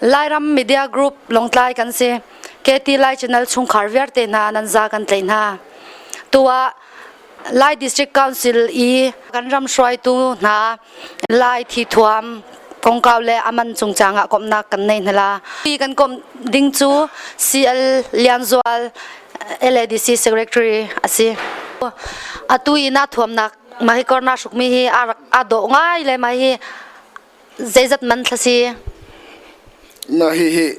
Lairam media group Longtlai kan si. KT Lai Channel chungkhar vialte hna nan za kan tlaih hna. Tu ah Lai District Council i kan ram hruaitu hna Lai thi thuam kongkau le aman chungchang ah komhnak kan nei hna la. Pi kan kom ding cu CL Lianzual LADC Secretary asi. Atu ina thuamnak ma hi korna hrukmi hi a rak a dawh ngai le ma hi Zeizat man thla si? Na hihi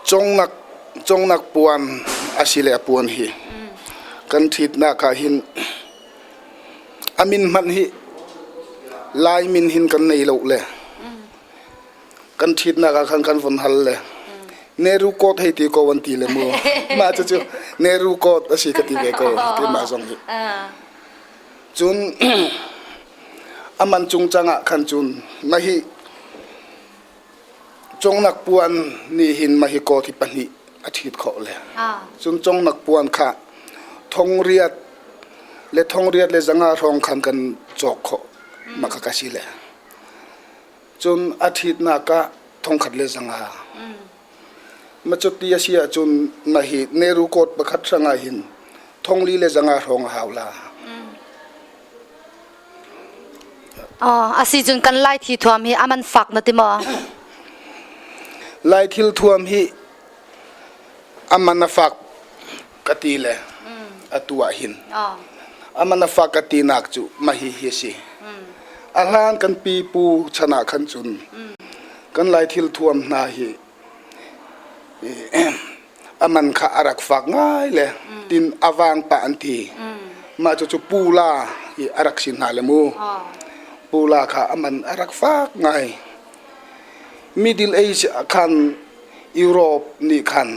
congnak congnak puan asile a puan hi kan ṭhitnak ah hin a min hmanh hi lai min hin kan nei lo le kan ṭhitnak ah khan kan von hal le neru coat hei ti ko an ti le mu mah cucu neru coat a si ka ti ve ko keimah zong hi Cun a man cung cangah khan cun na hi congnak puan nih hin ma hi kawthi pahnih a ṭhit khawh le cun congnak puan kha thongriat le thongriat le zanga hrawng khan kan cawk khawh ma kha ka si le cun a ṭhitnak ah thongkhat le zanga Macuti a si ahcun na hi neru kawt pakhat hrangah hin thongli le zanga hrawng a hau la. a si cun kan lai thi thuam hi a man fak na ti maw? Lai thil thuam hi a man a fak ka ti le atu ah hin amanafa ka ti nak cu mahi hi si a hlan kan pipu chan ah khan cun kan lai thil thuam hna hi aman kha arak fak ngai le tin awang pa an ti ma chu chu pula i arak sin hna le mu pula kha aman arak fak ngai middle age khan europe ni khan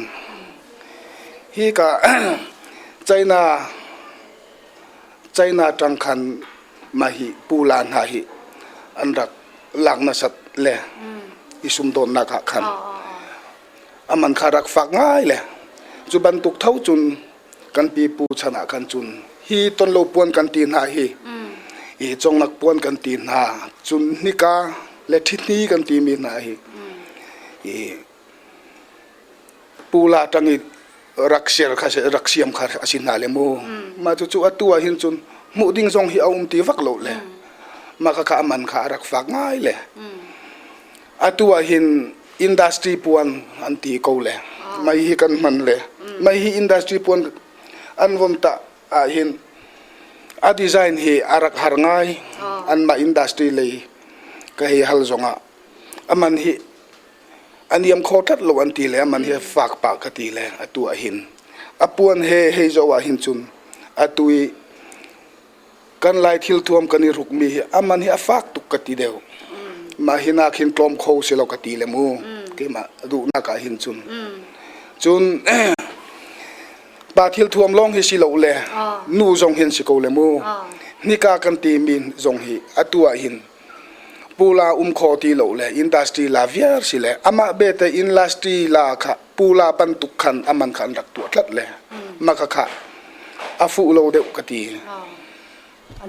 Hika China ṭang khan mahi pula hna hi an rak lak nasat le i sumdawnnak ah khan a man kha rak fak ngai le cu bantuk tho cun kan pipu chan ah khan cun hi tonlo puan kan ti hna hi hi conglak puan kan ti hna cun hnika le ṭhithni kan timi hna hi hi Pula tang i rak ser kha rak siam kha a si hna le mu. Mah cucu atu ah hin cun hmuh ding zong hi a um ti vak lo le mah khakha a man kha a rak fak ngai le atu ah hin industry puan an ti ko le mai hi kan hman le mai hi industry puan an vom ta ah hin a design hi a rak har ngai an mah industry lei ka hei hal zong ah a man hi a niam kho tlat lo an ti le man hi fak pa ka ti le atu ah hin a puan he hei zo ah hin cun atu i kan lai thil thuam kan i rukmi hi a man hi a fak tuk ka ti deuh mah hi nak hin tlawm kho si lo ka ti le mu keimah duhnak ah hin cun cun pa thil thuam lawng hi si lo le nu zong hin si ko le mu nika kan ti min zong hi atu ah hin Pula um khawh ti lo le industry la viar si le amah bete industry la kha pula bantuk khan aman kha an rak tuah tlat le makhakha a fuh lo deuh ka ti.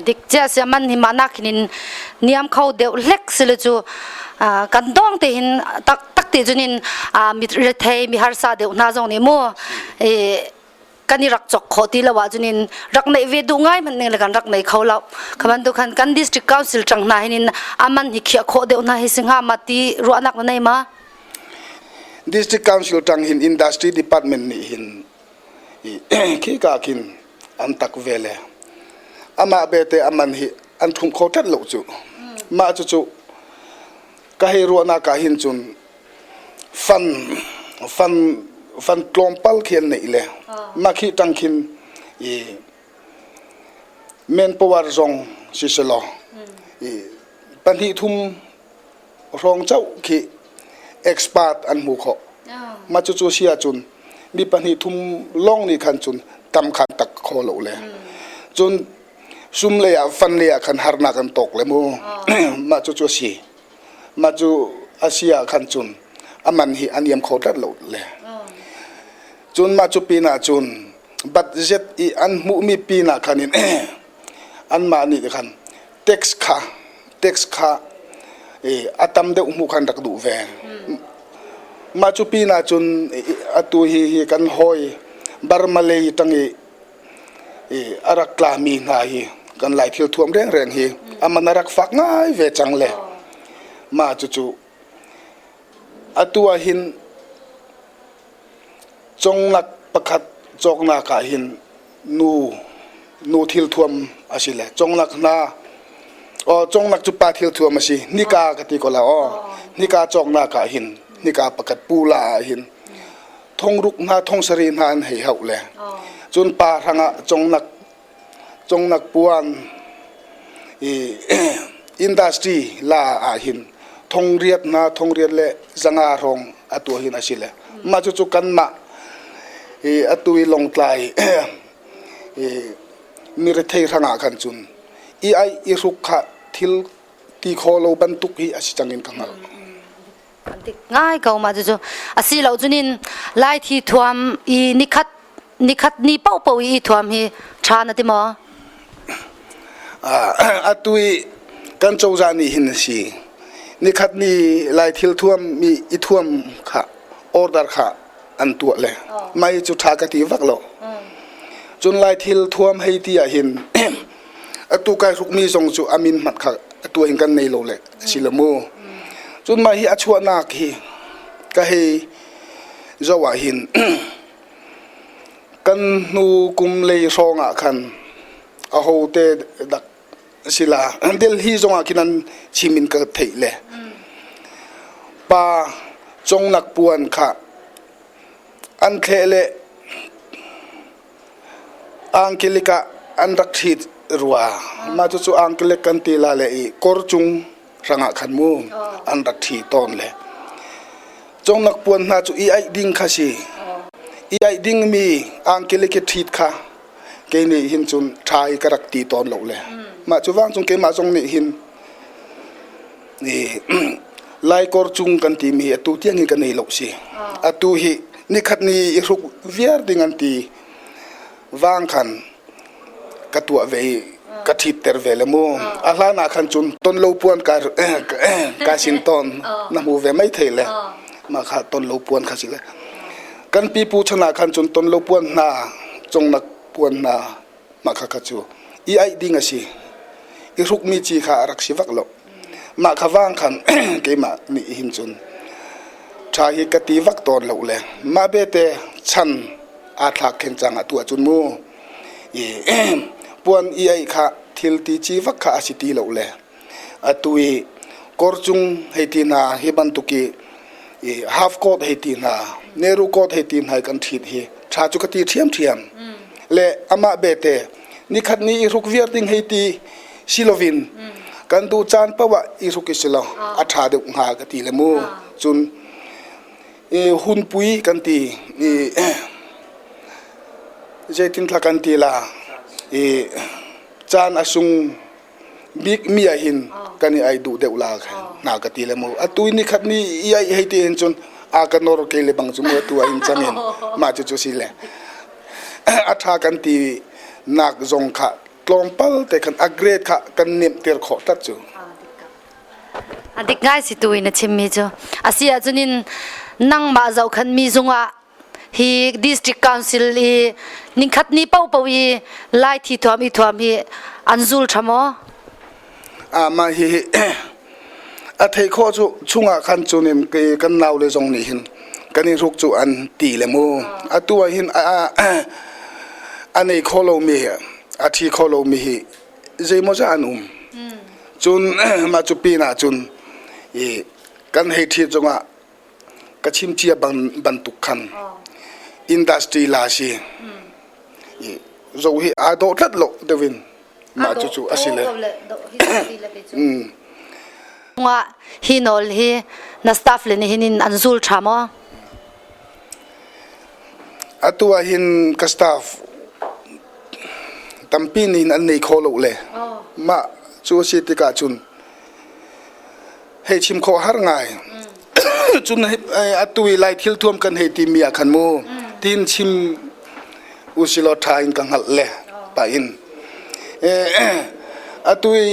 Dik cia sia man hi mana khinin niam kho deuh hlek sile cu kan dong te hin tak tak te junin mit rethei mi harsa deuh hna zong nih mu kan i rak chok khawh ti lo ahcun in rak neih ve duh ngai hmanh ning le kan rak nei kho lo kha bantuk khan kan district council tang hna hin in aman hi khiah khawh deuh hna hi si hnga ma ti ruahnak na nei ma district council tang hin industry department nih hin khi ka kin an tak ve le amah bete aman hi an thung kho tat lo cu mah cu cu ka hei ruahnak ah hin cun fan fan fan tlawmpal khi an neih le nak hi tang khin i men power zong si se law i pahnih thum hrawng chauh khi expert an hmu kho ma cu cu si ahcun mi pahnih thum lawng nih khan cun tam khan tak kho lo le cun sum lei ah fan lei ah khan harnak an tawk le mu mah cu cu a si mah cu a si ah khan cun aman hi an iam kho tlat lo le cun mah cu pin ah cun bat zet i an hmuhmi pin ah khan in anmah nih khan tax kha tax kha a tam deuh hmuh khan rak duh ve mah cu pin ah cun atu hi hi kan hawi Barmalay tang i i a rak tlami hna hi kan lai thil thuam rengreng hi a man a rak fak ngai ve cang le mah cucu atu ah hin conglak pakhat cawknak ah hin nu nu thil thuam a si le conglak hna aw conglak cu pa thil thuam a si nika ka ti ko la aw nika cawknak ah hin nika pakhat pula ah hin thongruk hna thongsari hna an hei hauh le cun pa hrangah congnak congnak puan i industry la ah hin thongriat hna thongriat le zanga hrawng a tua hin a si le mah cu cu kanmah i atu i longtlai i mirethei hrangah khan cun i aih i hruk kha thil ti kho lo bantuk hi a si cang in ka hngalh. an ti ngai ko ma cucu asi lo cunin lai thi thuam i nikhat nikhat ni popo i thuam hi tha na ti maw atu i kan cozah nih hin si nikhat ni lai thil thuam mi i thuam kha order kha an tuah le mai cu tha ka ti vak lo cun lai thil thuam hei ti ah hin atu kai hrukmi zong cu a min hmat kha atu in kan nei lo le si le mu cun mah hi a chuahnak hi ka hei zo ah hin kan hnu kum lei hrawng ah khan a hote dak sila delhi zong ah khin an chimin ka theih le pa congnak puan kha an thle le Angkilek ah an rak ṭhi rua. Mah cucu angkilek kan ti la le i kawr cung hrangah khan mu an rak ṭhi tawn le. Congnak puan hna cu i aih ding kha si. I aih dingmi angkilek i ṭhit kha kei nih hin cun ṭha i ka rak ti tawn lo le. Mah cu vancung keimah zong nih hin Laikor cung kan timi atu tiang hi kan ei lo si. Atu hi nikhat ni i hruk viar ding an ti vang khan ka tuah ve i ka ṭhitter ve le mu. A hlan ah khan cun ton lo puan ka ka sin ton na hmu ve mai thei le. Mah kha ton lo puan kha si le. Kan pipu chan ah khan cun ton lo puan hna, congnak puan hna mah kha kha cu i aih ding a si i hrukmi ci kha a rak si vak lo mah kha vang khan keimah nih hin cun ṭha hi ka ti vak tawn lo le mah bete chan aa thlak khen cang a tuah cun mu i puan i aih kha thil ti ci vak kha a si ti lo le Atu i kawr cung hei ti hna hi bantuk i, i half coat hei ti hna, neru coat hei ti hna hi kan ṭhit hi ṭha cu ka ti ṭhiamṭhiam. Le amah bete nikhat ni i hruk viar ding hei ti si loin kan duh caan paoh ah i hruk i si lo a ṭha deuh hnga ka ti le mu. Cun i hunpui kan ti i zeitinthla kan ti la i caan a sung bikmi ah hin kan i ai duh deuh la khin na ka ti le mu atu ni khat ni i ai hei ti hin cun a ka nor ke le bang cu mu atu ah hin chang in mah cu cu si le a tha kan ti nak zong kha tlawmpal te khan a grade kha kan nem ter khawh tat cu a dik ngai si tu in a chim mi cu a si ahcun in nangmah zohkhan mi zung ah hi district council hi ningkhat ni popo i lai thi thuam i thuam hi an zul thamo a ma hi a thei kho chu chungah khan chunim ke kan nau le zong nih hin kan in ruk chu an ti le mu atu a hin a nei kho lo mi a thi kho lo mi hi zeimo za an um cun ma chu pin ah cun i kan hei thi zongah ka chim cia bantuk khan industry la si zo hi aa dohtlanh lo deuh in mah cucu a si le hi nawl hi na staff le nih hin an zul ṭha maw atu ah hin ka staff tampi nih an nei kho lo le mah cu a si tikah cun hei chim khawh har ngai cun atu i lai thil thuam kan hei timi ah khan mu tiin chim usilaw ṭha in ka hngalh le pa in atu i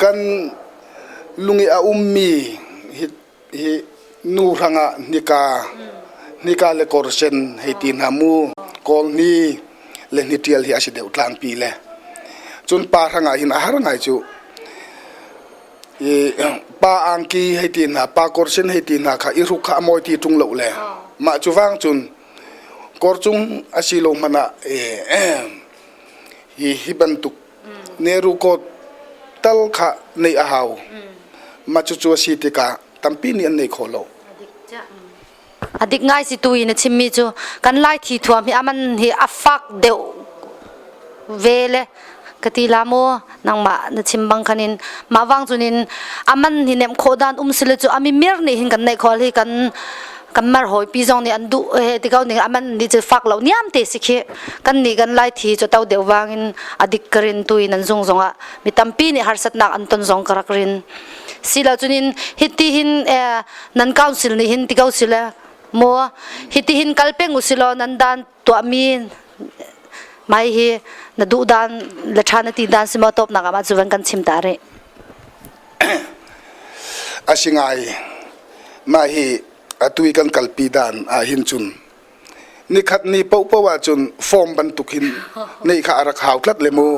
kan lung i a ummi hi hi nu hrangah nika nika le kor sen hei ti hna mu kawl ni le ni ṭial hi a si deuh tlangpi le cun pa hrangah hin a har ngai cu pa angki hei ti hna pa kawrsen hei ti hna kha i ruk kha a mawi ti ṭung lo le mah cu vang cun kawr cung a si lo hmanh ah hi hi bantuk nerukawt tal kha neih a hau mah cucu a si tikah tampi nih an neih khawh lo. A dik ngai si tu in a chimmi cu kan lai thi thuam hi aman hi a fak deuh ve le ka ti la mu nangmah na chim bang khan in mah wang chun in aman hi nem kho dan um sile cu ami mir ni hin kan nei khol hi kan kan mar hoi pi zong nih an du he ti ko ning aman ni chu fak lo niam te si khi kan ni kan lai thi chu tau deu wang in adik karin tu in an zung zong a mi tampi nih harsat nak an ton zong karak rin sila chunin hiti hin eh, nan council nih hin ti ko sile maw hitihin kal peng usilaw nan dan tuahmi mai hi na duh dan le tha na ti dan si maw tawpnak ah cu van kan chim ta rih asingai ma hi atui kan kalpi dan ah hin cun nikhat ni po po ah cun form bantuk hin nei kha arak hau tlat le mu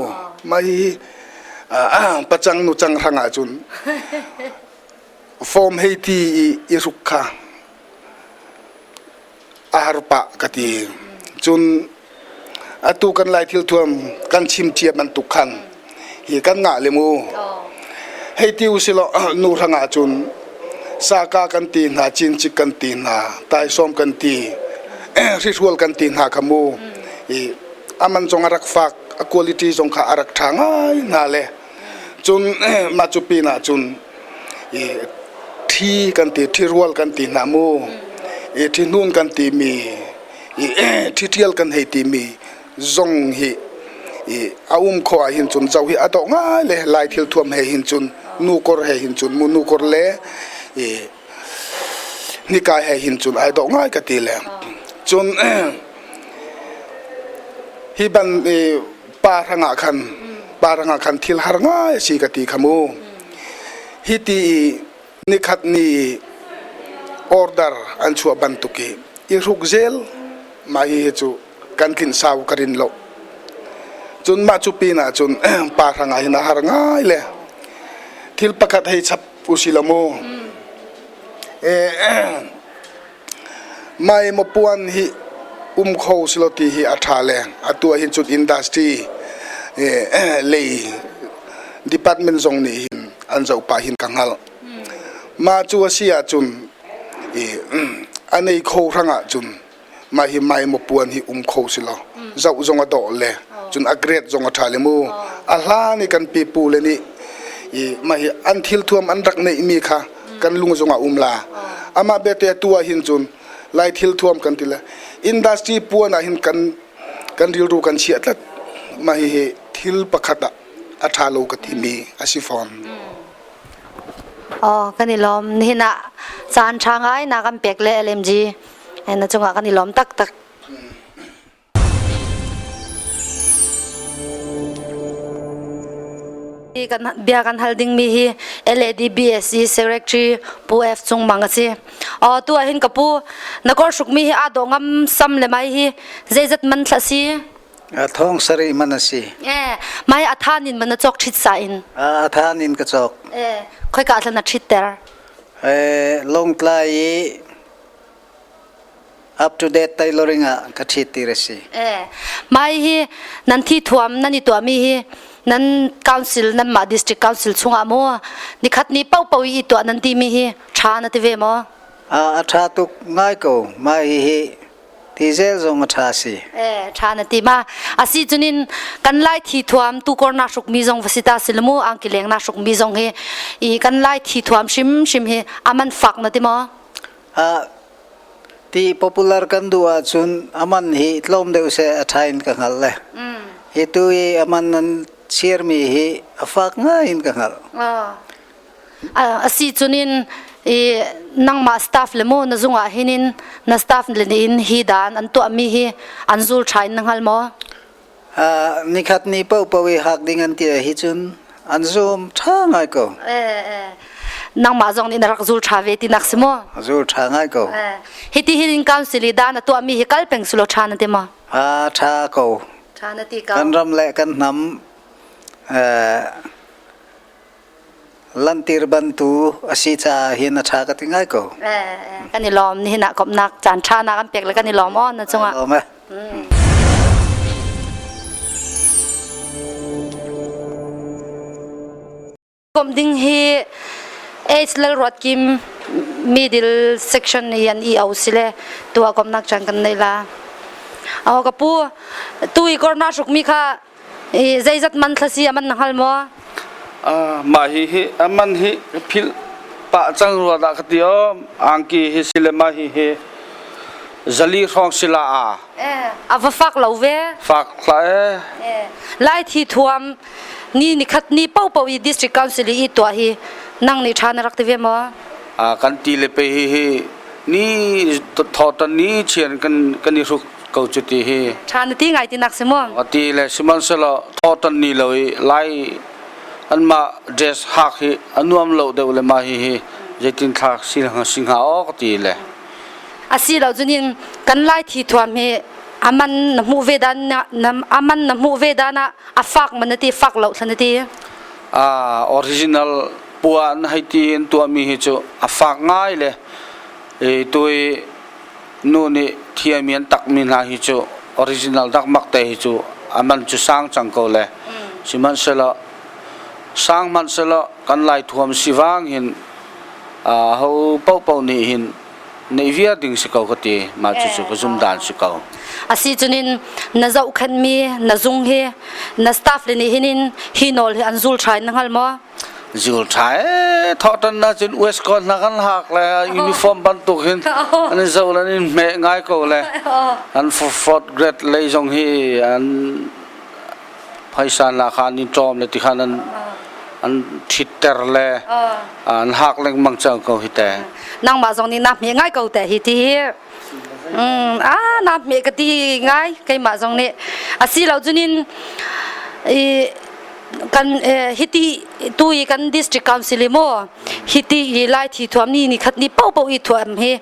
ma hi pacang nu chang rang ah cun Form hei ti i i ruk kha a har pah ka ti. Cun atu kan lai thil thuam kan chim cia bantuk khan hi kan ngah le mu. Hei ti usilaw nu hrangah cun saka kan ti hna, cincik kan ti hna, taisawm kan ti, hrihrual kan ti hna kha mu. I a man zong a rak fak, a quality zong kha a rak ṭha ngai hna le cun mah cu pinah cun i ṭhi kan ti ṭhirual kan ti hna mu i ṭhihnun kan timi i ṭhiṭhial kan hei timi zong hi i a um khawh ah hin cun zo hi a dawh ngai le lai thil thuam he hin cun nu kor he hin cun mu nu kor le i nika he hin cun ai dawh ngai ka ti le cun hi ban i pa rangah khan pa rangah khan thil har ngai si ka ti kha mu hi ti i nikhat ni order an chuah bantuk i i ruk zel mah hi cu kan tlin sau ka rin lo cun mah cu pinah cun pa hrangah hin a har ngai le thil pakhat hei chap u si lo mu eh Mai mapuan hi um kho si lo ti hi a ṭha leng. Atu ah hin cun industry lei department zong nih hin an zohpah hin ka hngalh. Mah cu a si ahcun a nei kho hrang ahcun mah hi mai mapuan hi um kho si lo. Zoh zong a dawh le cun a grade zong a ṭha le mu. A hlan i kan pipu le nih mah hi an thilthuam an rak neihmi kha kan lung zong ah um la amah belte atu ah hin cun lai thil thuam kan ti la industry puan ah hin kan kan rilru kan chiah tlat mah hihi thil pakhat ah a ṭha lo ka timi a si fawn Oh kan i lawm nihin ah caan ṭha ngai na kan pek le LMG na cungah kan i lawm taktak Bia kan hal dingmi hi LADBSC Secretary Pu F Cung Mang a si. Oh, tu ahhin ka pu na kor sukmi hi aa dawh ngam sam le mai hi zeizat man thla si? thong sari man a si. Eh, mai athan in man a cok thit sa in. A athan in ka cok. Eh, khoi ka thlan a thit ter. Eh, long tlai i up to date tailoring ah ka ṭhit ti a si. Eh, mai hi nan thi thuam nan i tuahmi hi nan council nan mah district council chungah maw nikhat ni pau pau i tuah nan timi hi ṭha na ti ve maw? A a ṭha tuk ngai ko mai hi hi ti zel zong a ṭha si. Eh, ṭha na ti ma. Asi cunin kan lai thi thuam tu kor na hruk mi zong va si ta silamu angki leng na hruk mi zong hi i kan lai thi thuam hrim hrim hi aman fak na ti maw? Ti popular kan duh ahcun aman hi tlawm deuh seh a ṭha in ka hngalh le. Hi tu i aman nan sirmi hi a fak ngai in ka hngalh. Asi cunin i nangmah staff le maw na zung ah hin na staff le nih hi dan an tuahmi hi an zul ṭha in na hngal maw? nikhat ni paohpaoh i hak ding an ti hi cun an zum ṭha ngai ko. nangmah zong nih na rak zul ṭha ve tinak si maw? Zul ṭha ngai ko. Hiti hin council i dan a tuahmi hi kal peng sulaw ṭha na ti maw? A ṭha ko. Ṭha na ti ko. Kan ram le kan hnam lantir bantu a si caah hin a ṭha ka ti ngai ko. kan i lawm nihin ah komhnak caan ṭha nak an pek le kan i lawm aw na cungah. Lawm eh. Komh ding hi AIDS lal ruat kim middle section yan i au sile tu a komnak chan kan nei la. Aw ka pu tu i korna suk mi kha I zeizat man thlasi a man na hngal maw? Uh, mah hi hi a man hi phil pah cang rua dah ka ti o angki hi silema hi hi zali hrawng sila a eh, a va fak lo ve fak la eh. eh lai thi thuam ni ni khat ni po po i district council i to hi nang ni than rak te ve mo a kan ti le pe hi hi ni tho ton ni chian kan kan ni ruk ko cu ti hi tha na ti ngai ti nak si mu ti le sihmanhsehlaw thawtan ni lo i lai anmah dress hak hi anuam lo deuh le ma hi hi zeitin thla si si hnga o ka ti le asi lo junin kan lai thi thuam hi aman na hmu ve dan na aman na hmu ve dana afak man ti fak lo thlan ti a original puan hai ti in tua mi hi chu afak ngai le e tui Nu nih thi a mian takmi hna hi cu original dakmak te hi cu a man cu sang cang ko le sihmanhsehlaw sang hmanhsehlaw kan laithuam sivang hin ho paohpaoh nih hin neih viar ding si ko ka ti ma cu cu ka zumdan si ko asi cunin na zohkhenmi na zung hi na staff le nih hinin hi nawl hi an zul trai na hngal maw zul ṭha ee thawhṭan ahcun Westcon hna kan hak le uniform bantuk in an in zoh le an in hmeh ngai ko le an forfort grade lei zong hi an phaisa hna kha an in ṭawm le ti khan an an ṭhitter le an hak lengmang cang ko hi teh nangmah zong nih na hme ngai ko teh hi ti hi Mm, ah naap me ka ti ngai keimah zong nih asi lo cunin i kan eh, hiti tu i kan district council i mo hiti i lai thi thuam ni ni khat ni po po i thuam hi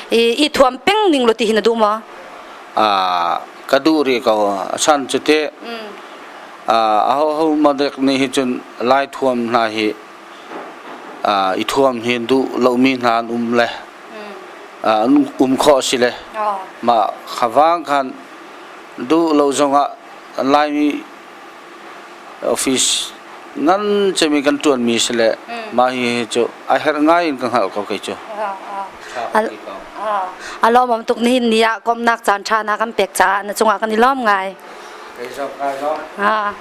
i, i thuam peng ning lo ti hi na du ma Ah, ka du ri ko san cu te ah ho ho madek ni hi cun lai thuam hna hi i thuam hi duh lomi hna an um le an um khawh a si le mah kha vang khan duh lo zongah Laimi office ngan cemi kan ṭuanmi si le mah hi cu a herh ngai in ka hngalh ko kei cu. A lawmawm tuk nihin ni ah komhnak caan ṭha na kan pek caah na cungah kan i lawm ngai. Kei zong kai lawm.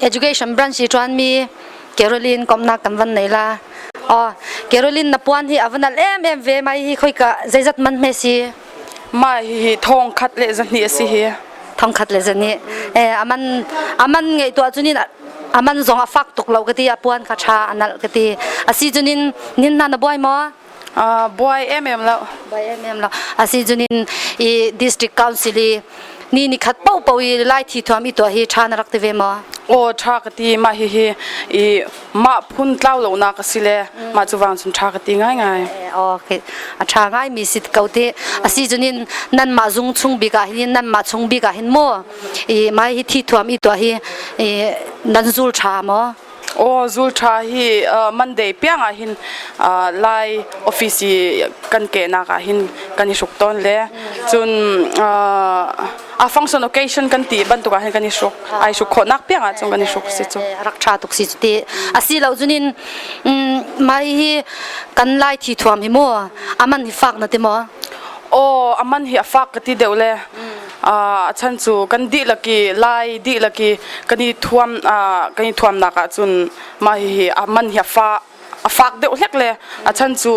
education branch i ṭuanmi Caroline komhnak kan van nei la aw Caroline na puan hi a van al em em ve mai hi khoi ka zeizat man hme si ma hi thong khat le zahni asi hi thong khat le zani eh aman aman ngei tu chunin aman zong a fak tuk lo kati a puan kha tha anal kati asi chunin nin na na boy mo buai emem lo buai emem lo asi cunin i district council i ni ni khat po po i lai thi thuam i tuah hi tha na rak ti ve maw o tha ka ti ma hi hi i ma phun tlau lo na ka si le ma chu wang sun tha ka ti ngai ngai okay a tha ngai mi si ko te asi junin nan ma zung chung bika hin nan ma chung bika hin mo i mai hi thi thuam i to hi nan zul tha mo Aw zul ṭha hi Monday piang ah hin Lai office i kan kehnak ah hin kan i hruk tawn le cun a function occasion kan ti bantuk ah hin kan i hruk ai hruk khawhnak piang ah cun kan i hruk si cu rak ṭha tuk si cu ti asi lo cunin mai hi kan lai thi thuam hi mu aman hi fak na ti maw aw aman hi a fak ka ti deuh le a chan cu kan dihlak i lai dihlak i kan i thuam kan i thuamnak ah cun mah hihi a man hi a fa a fak deuh hlek le a chan cu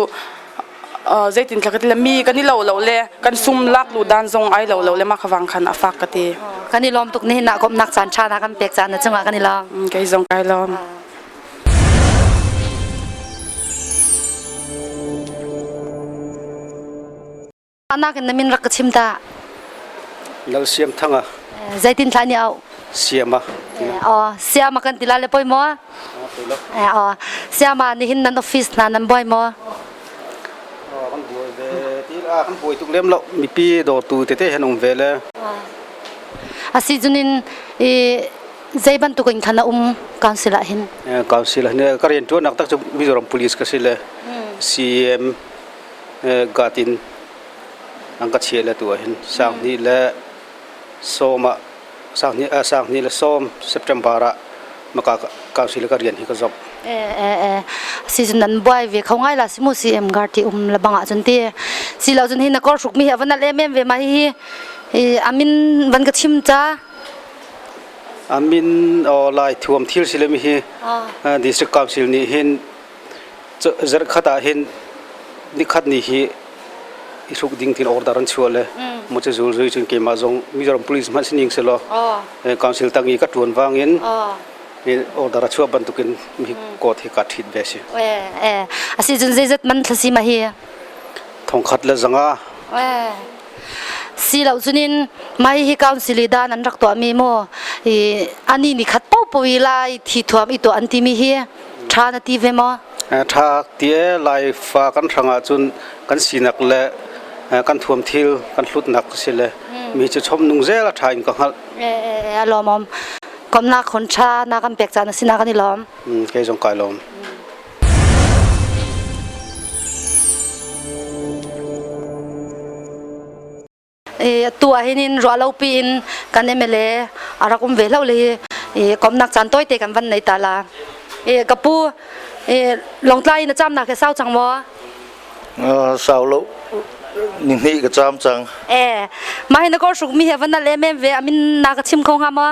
zeitin ka ti le mi kan i lo lo le kan sum lak lu dan zong ai lo lo le mah khavang khan a fak ka ti kan i lawm tuk ni na kom nak caan tha na kan pek caan na chungah kan i lawm kai zong kai lawm Ahnak in na min rak ka chim ta. Lal Siam Thanga. Zeitin thla ni au? Siama. Oh, Siama kan tila le poi mo. Oh, Siama ni hin nan office na nan buai mo. Kan buai ve ti la kan buai tuk lem lo mi pi do tu te te han um ve le. Asi junin i zei bantuk in khana um council ah hin. Council hin ka rian tuan nak tak chu Mizoram Police ka si le CM gat in an ka chiah le tu ah hin sang hnih le sawm ah sang hnih sang hnih le sawm September ah maka council ka rian hi ka zok e e si cun nan buai ve kho ngai la si mu si em gar ti um la bang ah cun ti si lo cun hi na kor suk mi hi van al em em ve ma hi hi amin van ka chim cha amin o lai thuam thil sile mi hi district council nih hin Zarhkhat ah hin nikhat ni hi i hruk ding tiin order an chuah le mu cu zul zui cun keimah zong Mizoram Police hmanh si ning se law council tang i ka ṭuan wang in order a chuah bantuk in mi kot hi ka ṭhit ve si. A si cun zeizat man thlasi ma hi? Thongkhat le zanga. Si lo cunin mai hi council i dan an rak tuahmi maw i ani ni khat popo i lai thi thuam i tuah an timi hi Ṭha na ti ve maw? Ṭha tie laifa kan hrang ahcun kan sinak le kan thuam thil kan hlutnak a si le mi cu chom nung zel a ṭha in ka hngalh. A lawmawm. Komhnak hon ṭha na kan pek caan a si na kan i lawm. Kei zong kai lawm. atu ah hin in ruahlopi in kan MLA a rak um ve hlo le i komnak caan tawite kan van nei ta la i ka pu i longtlai na cham nak he sau chang maw sau lo ni hni ka cham chang e ma hi na kor suk mi he van nal em em ve amin na ka chim kho nga maw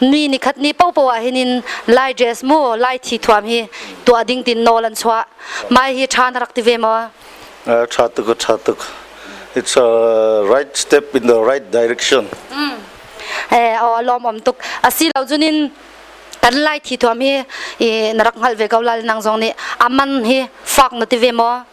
ni ni khat ni popo ah hin in lai dress mu lai thi thuam hi tua ding tin no lan chwa mai hi than rak ti ve mo uh, chatuk chatuk it's a right step in the right direction mm. eh o lom om tuk asi lo junin kan lai thi thuam hi i narak ngal ve ko lal nang zong ni aman hi fak no ti ve mo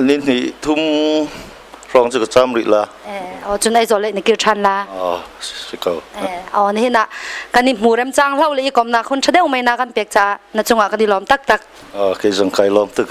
Lihnih thum hrawng cu ka cam rih la. Eh, oh cun ai zo le na kir than la. Oh, si ko. Eh, oh ni na kan i hmu rem chang hlau le i kom na khun tha deu mai na kan pek cha na chungah ka di lom tak tak. Oh, ke zong kai lom tuk.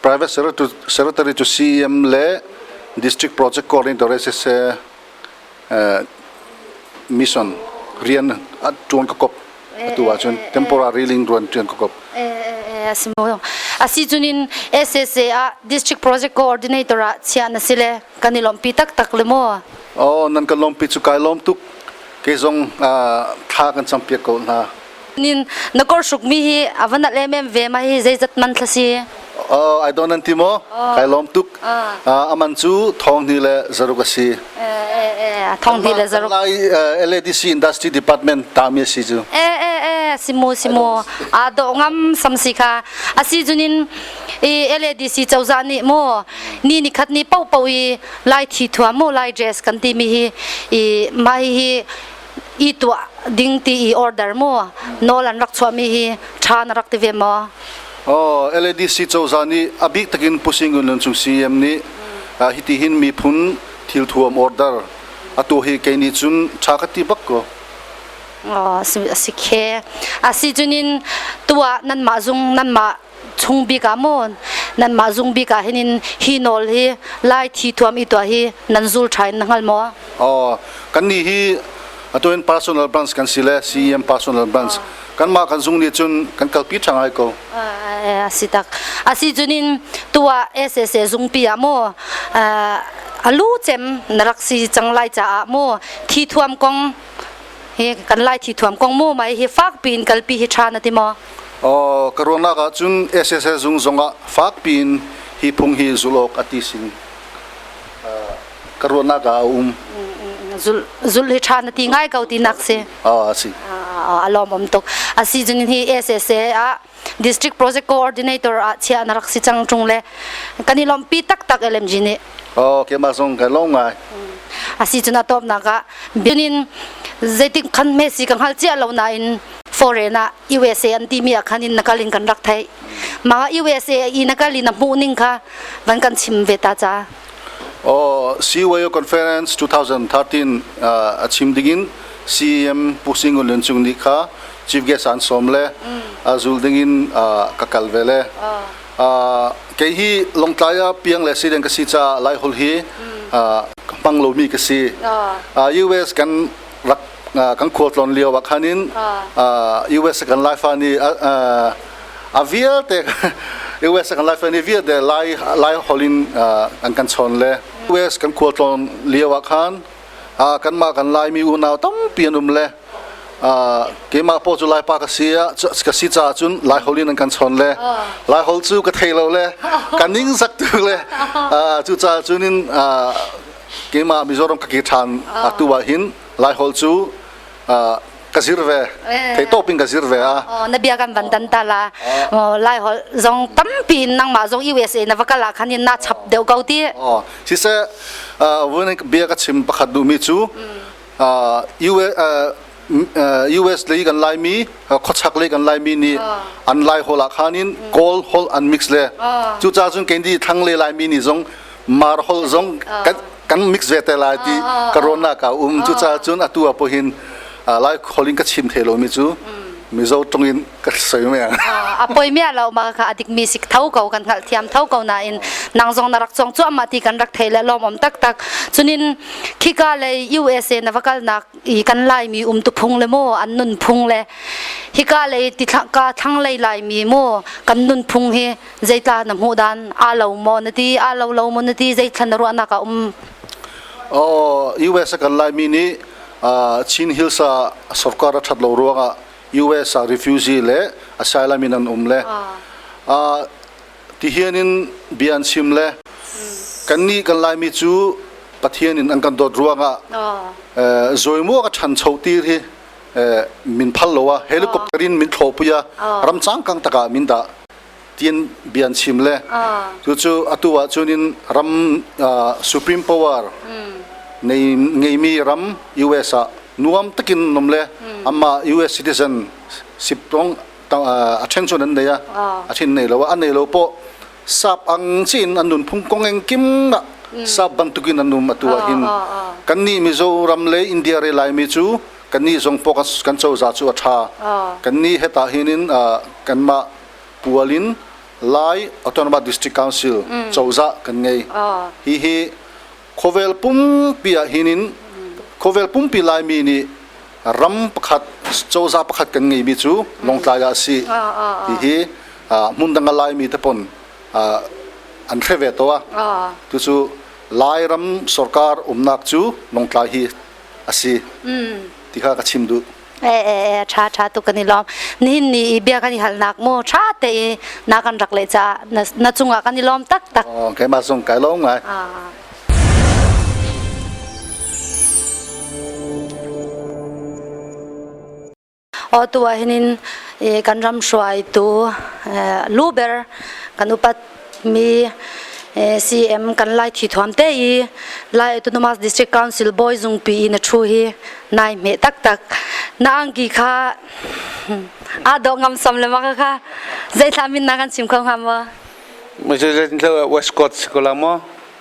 private secretary cu CEM le district project coordinator se se mission rian tuan ka kop atu ahcun temporary ling tuan tuan ka kop a si mo a si chunin SSA a district project coordinator a chia na sile kan i lompi tak tak le mo oh nan kan lompi chu kai lom tuk ke zong thla kan champiak ko hna Nin na kor suk mi hi a va nat em em ve ma hi zeizat man thla si? Uh, I don't anti mo. Uh, Kai lom tuk. Uh, uh, aman cu thong ni le zaruk asi. Eh eh eh thong ni le zaruk. Lai uh, LADC Industry Department ta mi asi ju. Eh eh eh simu simu. A do ngam samsi kha asi junin i LADC chawza ni mo ni ni khat ni pau pau i lai thi thua mo lai dress kan ti mi hi i ma hi i tuah ding ti i order mu nawl an rak chuahmi hi ṭha na rak ti ve maw? Oh, LADC cozah nih a bik takin Pu Sing Ngun Lun Cung CM nih hiti hin miphun thilthuam order a tuah hi kei nih cun ṭha ka ti bak ko. Oh, a si khi. A si cunin tuah nanmah zung nanmah chung bik ah maw nanmah zung bik ah hin hi nawl hi lai thi thuam i tuah hi nan zul tha in na hngal maw oh kan ni hi atu in personal branch kan si le CEM personal branch kanmah kan zung nih cun kan kalpi ṭhang hai ko a si tak a si cunin tu ah SSA zungpi ah maw alu cem na rak si cang lai caah maw thi thuam kong hi kan lai thi thuam kong mu mai hi fak piin kalpi hi tha na ti maw Aw ka ruangnak ah cun SSL zung zongah fak piin hi phung hi zulh awk a ti sin ka ruahnak ah a um zul zul hi tha na ti ngai ko ti nak si a si a lawmawm tuk a si chung hi SSA ah district project coordinator ah chia na rak si cang tung le kan i lompi taktak LMG nih oh keimah zong ka lom ngai asi cun atop nak ah binin zeitik khan me si ka ngal chia lo na in foreign ah USA an ti mi ah khan in nakal in kan rak thai ma USA i nakal in a hmuh ning kha van kan chim ve ta cha oh CWAO conference 2013 uh, a chim dingin CM Pu Sing Lun Chung ni kha chief guest an som le zul ding in ka kal ve le kei hi longtlai ah piang le si deng ka si ca lai hol hi hmang lomi ka si US kan rak kan khual tlon lio ah khanin US kan laifa ni a vialte US kan laifa ni vialte lai lai holin an kan chon le US kan khual tlon lio ah khan kanmah kan Laimi unau tampi an um le keimah paw cu Laipa ka si ka si caah cun Laihol in an kan chawn le Laihol cu ka thei lo le ka ning sak tu le cucaah cun in keimah Mizoram ka ke ṭhan atu ah hin Laihol cu ka zir ve thei to pin ka zir ve a na bia kan van dan ta la lai hol zong tampi nangmah zong USA na va kala khan na chap deuh ko ti oh si se wen bia ka chim pakhat du mi chu US lei kan lai mi khochak lei kan lai mi ni an lai hola khanin gold hol an mix le chu cha sun kendi thang le lai mi ni zong mar hol zong kan kan mix ve te lai ti ka rona ka um cu caah cun atu ah pawhin lai kholin ka chim the lomi cu mizo tong in ka soi me a poi mia lo ma ka adik mi sik tho ko kan hal thiam tho ko na in nang zong na rak chong chu amma ti kan rak thei le lom om tak tak chunin khika le USA na vakal nak i kan lai mi um tu phung le mo an nun phung le hika le ti ka thang lei lai mi mo kan nun phung hi zeitla na hmuh dan aa lo maw na ti aa lo lo maw na ti zeithlan na ruahnak a um Oh, US a kan laimi nih uh, Chin Hills ah sawrkar a that lo ruangah US ah refugee le asylum in an um le uh, ti hian in bian sim le kan ni kan laimi cu pathian in an kan dawt ruangah eh, zoimuak a than cho tir hi eh, min phal loa helicopter in min thlo puya ram chang kang taka min da tiin bia an chim le cucu atu ah cun in ram supreme power nei ngeimi ram US ah nuam takin nom le amma US citizen sip tong a ṭhen cun an nei a a thin nei lo an nei lo po sap ang chin an nun phung kong eng kim na sap bantukin an um atu ah hin kan nih mizoram le india re lai mi cu kannih zong pawk kan cozah cu a ṭha. Kannih he tah hin in kanmah pual in Lai Autonomous District Council cozah kan ngei. Hihi khawvel pumpi ah hin in khawvel pumpi Laimi nih ram pakhat cozah pakhat kan ngeimi cu Lawngtlai ah a si. Hihi hmun dang ah Laimi te pon an hre ve to a. Tucu Lairam sorkar umnak cu Lawngtlai hi asi ti kha ka chim duh e e e tha tha tu kan i lawm nihin ni i bia kan i hal nak mo tha te i na kan rak le cha na chungah kan i lawm tak tak oh keimah zong kai lawm ngai Atu ah hin kan ram hruaitu luber kan upatmi CM kan lai thi thuam te i Lai Autonomous District Council Bawi Zungpi in a thu hi nai hme taktak na angki kha aa dawh ngam som le ma kha zeithla min na kan chim kho hnga maw? Mazulen lo West Coast ko la maw?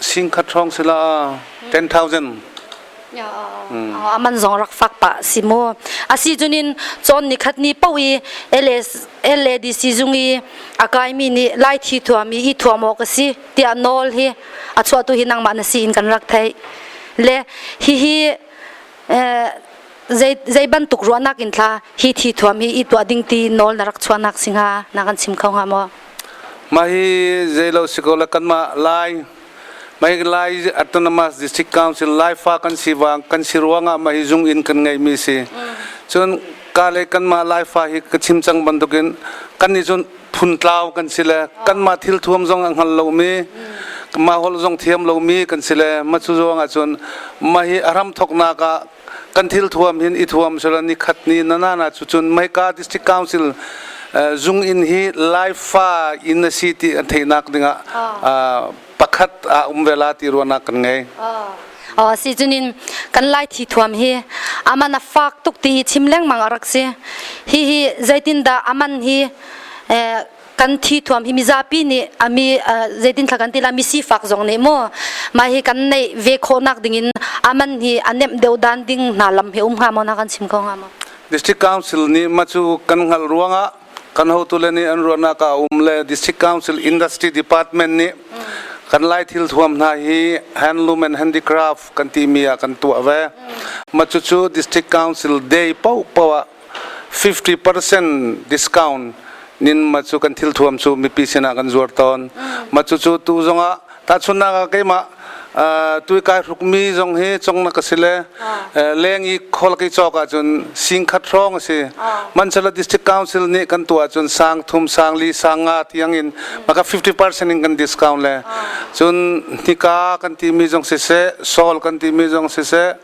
Sing khat hrawng si la 10,000. a man zong rak fak pa si mu asi cunin chon ni khat ni po i LADC zung i a kai mi nih lai thi thuam i thuam awk asi tiah nawl hi a chuah tu hi nangmah na si in kan rak thei le hi hi zei bantuk ruahnak in thla hi thi thuam hi i tuah ding ti nawl na rak chuah nak singa na kan sim kho hnga maw Mah hi zeilo sikaw kanmah Lai Mai Lai Autonomous District Council Laifa kan si wang kan si ruangah mah hi zung in kan ngeimi si. Cun ka le kanmah Laifa hi ka chim cang bantukin kan nih cun phun tlau kan si le kanmah thil thuam zong a hngal lomi mah hol zong thiam lomi kan si le mah cu ruangah cun mah hi a ram thoknak ah kan thil thuam hin i thuam sila ni khat ni nanana cu cun Maika District Council zung in hi laifa in a si ti theihnak dingah pakhat a um vela ti ruahnak kan ngei oh si cunin kan lai thi thuam hi aman a fak tuk ti chim lengmang a rak si hi hi zeitin dah aman hi kan thi thuam hi mizapi nih a mi zeitin thla kan tila mi sifak zong nih mu mah hi kan nei ve khawhnak ding in aman hi anem deu dan ding hna lam he um hnga mo na kan sim ko hnga mo district council nih ma chu kan ngal ruangah kan hotu le nih an ruahnak a um le district council industry department nih kan lai thil thuam hna hi handloom and handicraft kan ti mi ah kan tuah ve ma chu chu district council day pau pawa 50% discount nin ma cu kan thil thuam cu mipi sinah kan zuar tawn ma cu cu tu zongah tahchunnak ah keimah tui kai hruk mi zong hi congnak a si le leng i khol ki cawk ah cun singkhat hrawng a si mansala district council nih kan tu ah cun sang thum sang li sang nga tiang in maka 50% in kan discount le cun nika kan ti mi zong siseh sol kan ti mi zong siseh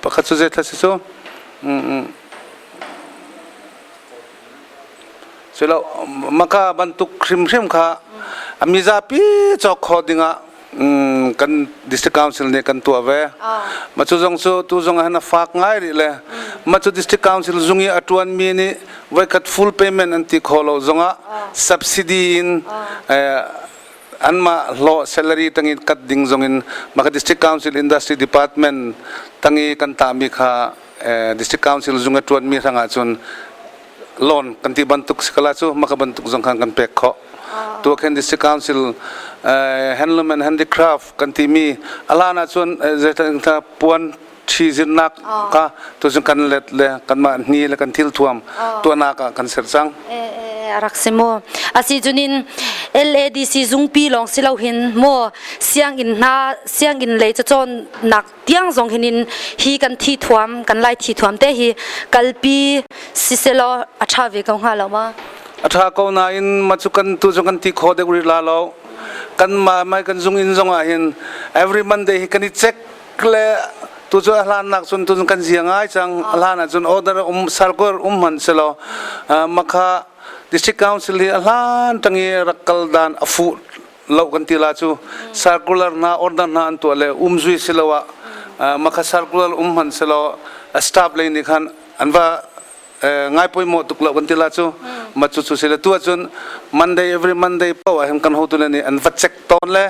Pakhat cu zeithla si cu? Culo maka bantuk hrimhrim kha a mizapi cawk khawh dingah kan District Council nih kan tuah ve. Mah cu zong cu tu zong ah hin a fak ngai rih le mah cu District Council zung i a ṭuanmi nih voikhat full payment an ti khawh lo zongah subsidy in anmah hlawh salary tangin kat ding zongin maka district council industry department tangi kan tami kha eh, district council zung a tuan mi hrangah cun loan kan ti bantuk sikala cu maka bantuk zong khan kan pek kho tu khen district council eh, handloom and handicraft kan ti mi alana cun eh, puan ṭhizirnak ah tuzing kan let le kanmah ni le kan thil thuam tuahnak ah kan ser cang. a rak si maw asi cunin LADC zungpi lawng si lo hin maw sianginn hna sianginn lei cacawn nak tiang zong hin in hi kan thi thuam kan lai thi thuam te hi kalpi siselo aṭha ve ko hnga lo ma aṭha ko nain macu kan tu zong kan ti kho dek ri la lo kan ma mai kan zung in zong ah hin every monday hi kan i check kle tu cu a hlan nak cun tun kan zia ngai cang a hlan ah cun order um sarkor um han se lo makha district council hi a hlan tangi rak kal dan a fu lo kan ti la chu circular na order na an to le um zui siloa makha circular um han se lo staff lei ni khan an va ngai pawimawh tuk lo kan ti la cu mat cu sile tu ahcun Monday every Monday po ahhin kan hotu le nih an va check tawn le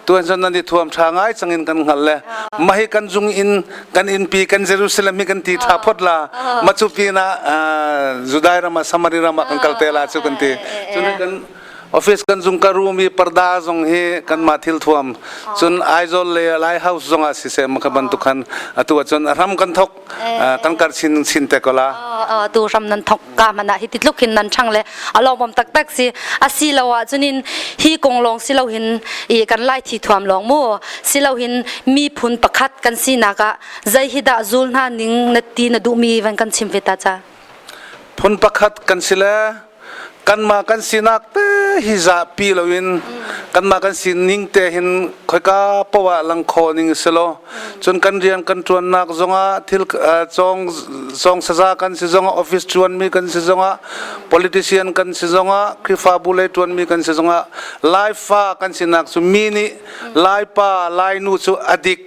tu ahcun nan i thuam ṭha ngai changin kan hngal le mahi kan zung in kan innpi kan Jerusalem hi kan ti ṭha phot la macu pinah Judai ram ah Samari ram ah kan kal te la cu kan ti cun kan office kan zung ka room i parda zong hi kanmah thil thuam cun Aizawl le Lai House zong ah siseh makha bantuk khan atu ahcun ram kan thok kan karh chin nan chin te ko la tu ram nan thok ka mana hi titluk hin nan chang le alawmom taktak si asi lo ah chunin hi kong long si lo hin i kan lai thi thuam long mu si lo hin mi phun pakhat kan si naka zai hi da zul na ning na ti na du mi van kan chim feta cha phun pakhat kan sile kanmah kan sinak te hi zahpi loin kanmah kan sining te hin khoika poah langkhaw ning si lo cun kan rian kan tuannak zongah thil cong cong saza kan si zongah office tuanmi kan si zongah politician kan si zongah krifabu lei tuanmi kan si zongah laifa kan sinak cu mi nih laipa lainu cu adik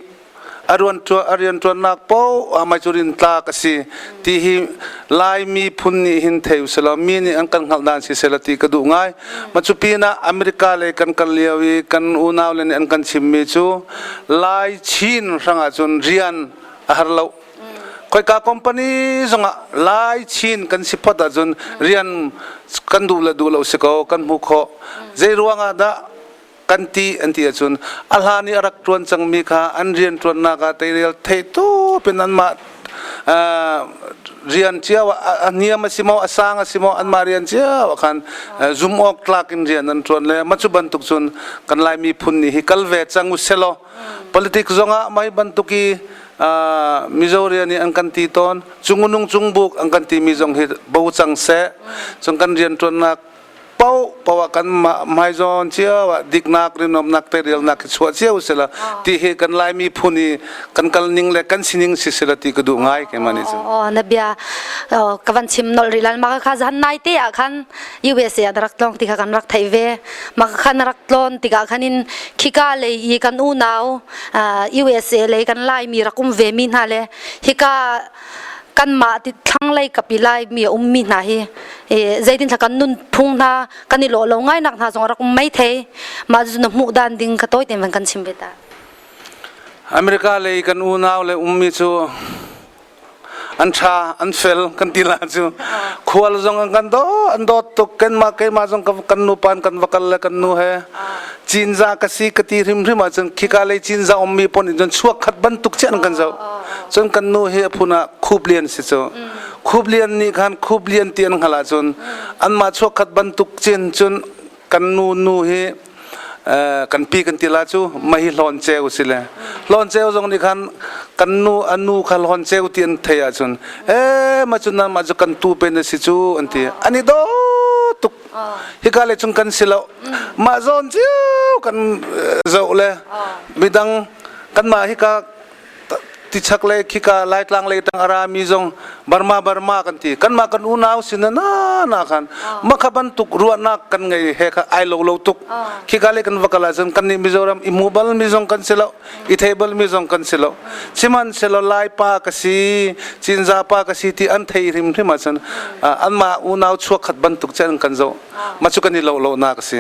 a rianṭuannak paoh ah Mazurin tlak a si ti hi Lai miphun nih hin thei u selaw mi nih an kan hngalh dan si sela ti ka duh ngai ma cu pinah America lei kan kal lio i kan unau le nih an kan chimmi cu Lai Chin hrangah cun rian a har lo khoika company zongah Lai Chin kan si phot ahcun rian kan duh le duh lo si ko kan hmuh khawh zei ruangah dah kan ti an ti ahcun a hlan i a rak ṭuan cangmi kha an rian ṭuannak ah teirel thei tup in anmah rian cio a niam a si maw a sang a si maw anmah rian cio ah khan zum awk tlak in rian an ṭuan le mah cu bantuk cun kan lai miphun nih hi kal ve cang u selaw politics zongah mei bantuk i mizo rian an kan ti tawn cung nung cung buk an kan ti mi zong hi bo cang seh cun kan rian ṭuannak poah kan hmaizawn cio ah diknak rinawmnak te rialnak i chuah cio sila ti he kan laimi phun hi kan kal ning le kan sining si sila ti ka duh ngai ke mani cu oh na bia ka van chim nol ri lal ma kha zan nai te ah khan USA a rak tlong ti kha kan rak thei ve ma khan rak tlon ti ka khan in khika le i kan unau USA le kan lai mi rakum ve mi hna le hika kanmah thlanglei kapi laimi a ummi hna hi zeitin kan nunphung hna kan i lawh lo ngainak hna zong rak um mai thei mah cu na hmuh dan ding ka tawi te van kan chim ve ta America lei kan unau le ummi cu an tha an fel kan ti la cu khual zong an kan do an dawt tuk kan ma keima zong kan nu pan kan vakal le kan nu he Cinza ka si ka ti hrimhrim ahcun khika lei Cinza ummi pawn in cun chuak khat bantuk chiah kan zoh cun kan nu hi a phun ah Khup Lian si cu Khup Lian nih khan Khup Lian ti an hngalh ahcun anmah chuak khat bantuk cin cun kan nu nu hi kan pi kan tila cu mahi hlawn ceu si le hlawn ceu zong nih khan kan nu a nu kha hlawn ceu ti an thei ahcun e ma cu nan mah cu kan tu pen a si cu an ti ani do tuk hika le chung kan si lo mah zawn cio kan zoh le midang kanmah hika tichak le khika laitlang le tang ara mi zong Burma Burma kan ti kanmah kan unau sin na na khan makha bantuk ruahnak kan ngei he kha ai lo lo tuk khika le kan vakala zan kan ni Mizoram i mobile mi zong kan si lo i table mi zong kan si lo sihmanhsehlaw lai pa ka si cinza pa ka si ti an thei hrim hrim ahcun anmah unau chuakhat bantuk cun kan zoh ma cu kan i lo lo na ka si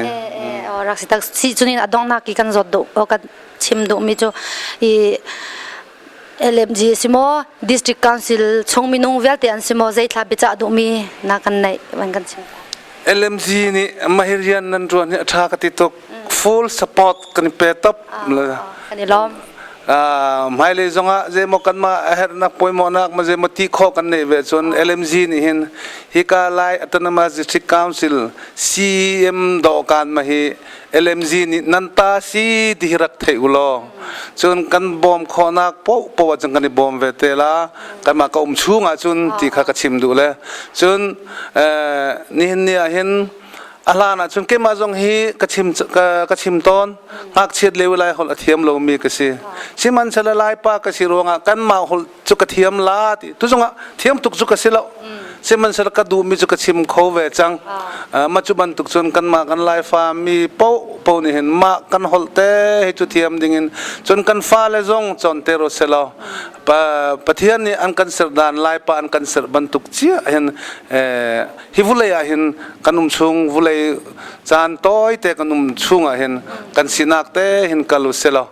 rak si tak si cunin adongnak i kan zawt duh ka chim duhmi cu i LMG si mo district council chung minung vialte an si mo zeitlá bica duhmi na kan neih van kan chim LMG nih mahirian nan ruan hi a tha ka ti tuk full support kan i pe top le kan i lawm hmailei zongah zeimaw kanmah a herhnak poimawhnak ma zeimaw ti khawh kan nei ve cun LMG nih hin hika lai Autonomous District Council CEM dawhkan ma hi LMG nih nan ta si ti hi rak thei u law cun kan bawm khawhnak poh poh cun kan i bawm ve te la kanmah ka um chung ah cun ti kha ka chim duh le cun nihin ni ah hin a hlan ah cun keimah zong hi ka chim ka chim tawn ngakchiat le lai holh a thiam lomi ka si sihmanhsehlaw laipa ka si ruangah kanmah holh cu ka thiam la ti tu zongah thiam tuk cu ka si lo sihmanhsehlaw ka duhmi cu ka chim kho ve cang mah cu bantuk cun kanmah kan laifa mi po po nih hin mah kan holh te hi cu thiam dingin cun kan fale zong cawn te ro se law pathian nih an kan serdan laipa an kan serh bantuk cia hin hi vulei ah hin kan um chung vulei caan tawite kan um chung ah hin kan sinak te hin kal u selaw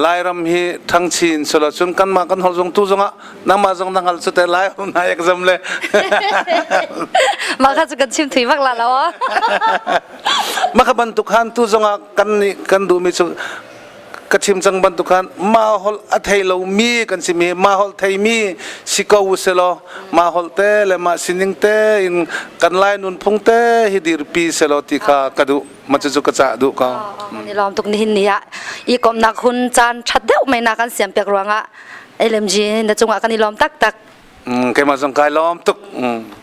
lairam hi thangchi in selaw cun kanmah kan hol zong tu zong ah nangmah zong nang hal cute lai na ek zam le mah kha cu kan chim thui bak la lo mah ka bantuk han tu zong ah kan nih kan duhmi cu ka chim cang bantuk khan ma hol a thei lomi kan si mi ma hol thei mi si ko selaw ma hol te le ma sining te in kan lai nunphung te hi dirpi selaw ti kha ka duh ma cu cu ka cah duh ko ni lawm tuk ni hin ni ah i komnak hun caan that deuh mai na kan siam pek ruangah LMG na cungah kan i lawm taktak mm, keimah zong kai lawm tuk mm.